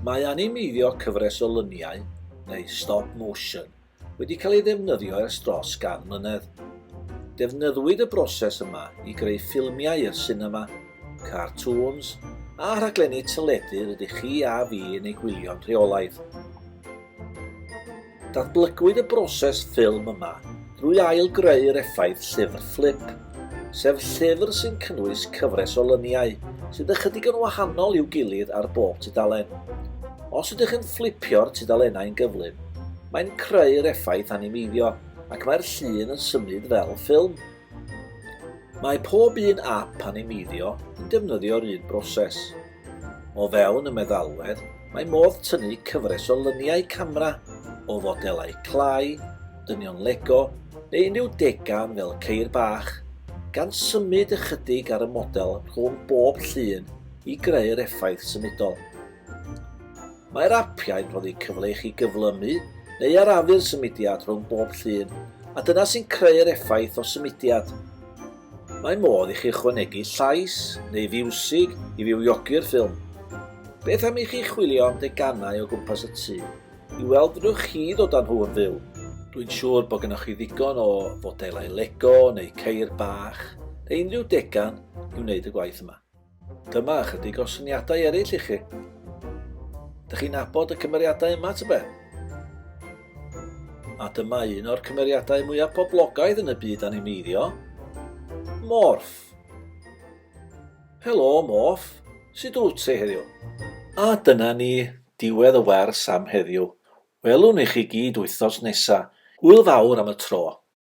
Mae animeiddio cyfres o luniau, neu stop motion, wedi cael ei ddefnyddio ers dros gan mlynedd. Defnyddwyd y broses yma i greu ffilmiau i'r sinema, cartŵns, a rhaglenni teledu rydych chi a fi yn eu gwylio'n rheolaidd. Datblygwyd y broses ffilm yma drwy ail-greu'r effaith llyfr fflip, sef llyfr sy'n cynnwys cyfres o lyniau sydd ychydig yn wahanol i'w gilydd ar bob tudalen. Os ydych yn fflipio'r tudalennau'n gyflym, mae'n creu'r effaith animeiddio ac mae'r llun yn symud fel ffilm. Mae pob un ap animeiddio yn defnyddio'r un broses. O fewn y meddalwedd, mae modd tynnu cyfres o lyniau camera o fodelau clai, dynion Lego neu unrhyw degan fel ceir bach, gan symud ychydig ar y model rhwng bob llun i greu'r effaith symudol. Mae'r apiau'n rhoddi cyfle i chi gyflymu neu arafu'r symudiad rhwng bob llun, a dyna sy'n creu'r effaith o symudiad. Mae modd i chi ychwanegu llais neu fiwsig i fywiogi'r ffilm. Beth am i chi chwilio am deganau o gwmpas y tŷ i weld fedrwch chi ddod â nhw yn fyw? Dwi'n siŵr bod gennych chi ddigon o fodelau Lego neu ceir bach neu unrhyw degan i wneud y gwaith yma. Dyma ychydig o syniadau eraill i chi. Dych chi'n abod y cymeriadau yma, tybe? A dyma un o'r cymeriadau mwyaf poblogaidd yn y byd animeiddio, Morph. Helo, Morph. Sut wyt ti heddiw? A dyna ni, diwedd y wers am heddiw. Welwn i chi gyd wythnos nesa. Hwyl fawr am y tro.